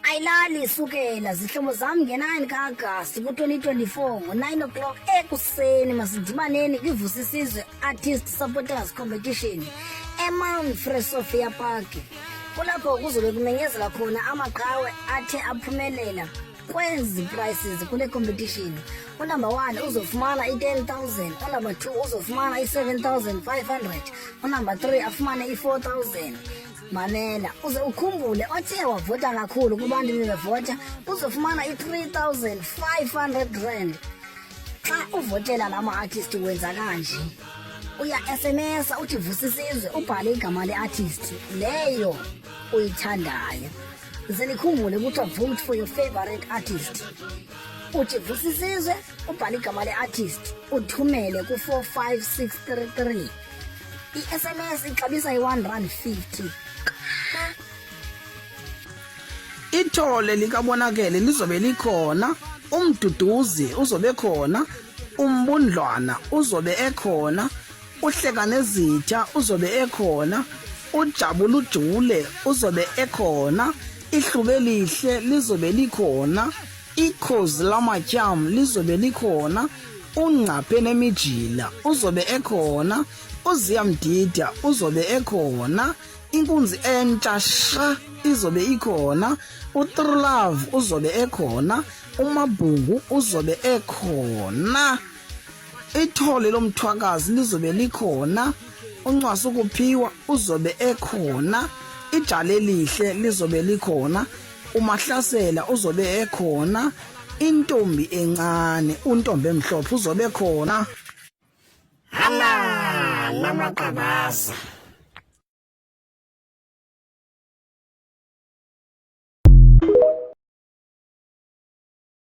ayilali sukela zihlobo zam nge-9 kaagasti ku-2024 ngo-9 o'clock ekuseni masidibaneni kwivusa isizwe artist supporters competition emount free sophia park kulapho kuzobe kumenyezela khona amaqhawe athe aphumelela kwezi prices kule competition unumber one uzofumana i-10000 unumber two uzofumana i-7500 unumber three afumane i-4000 Mamela uze ukhumbule othe wavota kakhulu kubantu bebevota uzofumana i-3500 rand xa uvotela la ma-artist wenza kanje uya sms uthi vusisizwe ubhale igama le-artist leyo uyithandayo ze nikhumbule kuthiwa vote for your favorite artist uthi vusisizwe ubhale igama le-artist uthumele ku-45633 i-sms ixabisa i-one rand fifty ithole likabonakele lizobe likhona umduduzi uzobe khona umbundlwana uzobe ekhona uhleka nezitha uzobe ekhona ujabula ujule uzobe ekhona ihlube lihle lizobe likhona ikhozi lamatyam lizobe likhona ungqaphe nemijila uzobe ekhona uziyamdida uzobe ekhona inkunzi entsha sha izobe ikhona utrulove uzobe ekhona umabhungu uzobe ekhona ithole lomthwakazi lizobe likhona uncwasa ukuphiwa uzobe ekhona ijale lihle lizobe likhona uMahlasela uzobe ekhona intombi encane untombi emhlophe uzobe khona hala lamaqabaza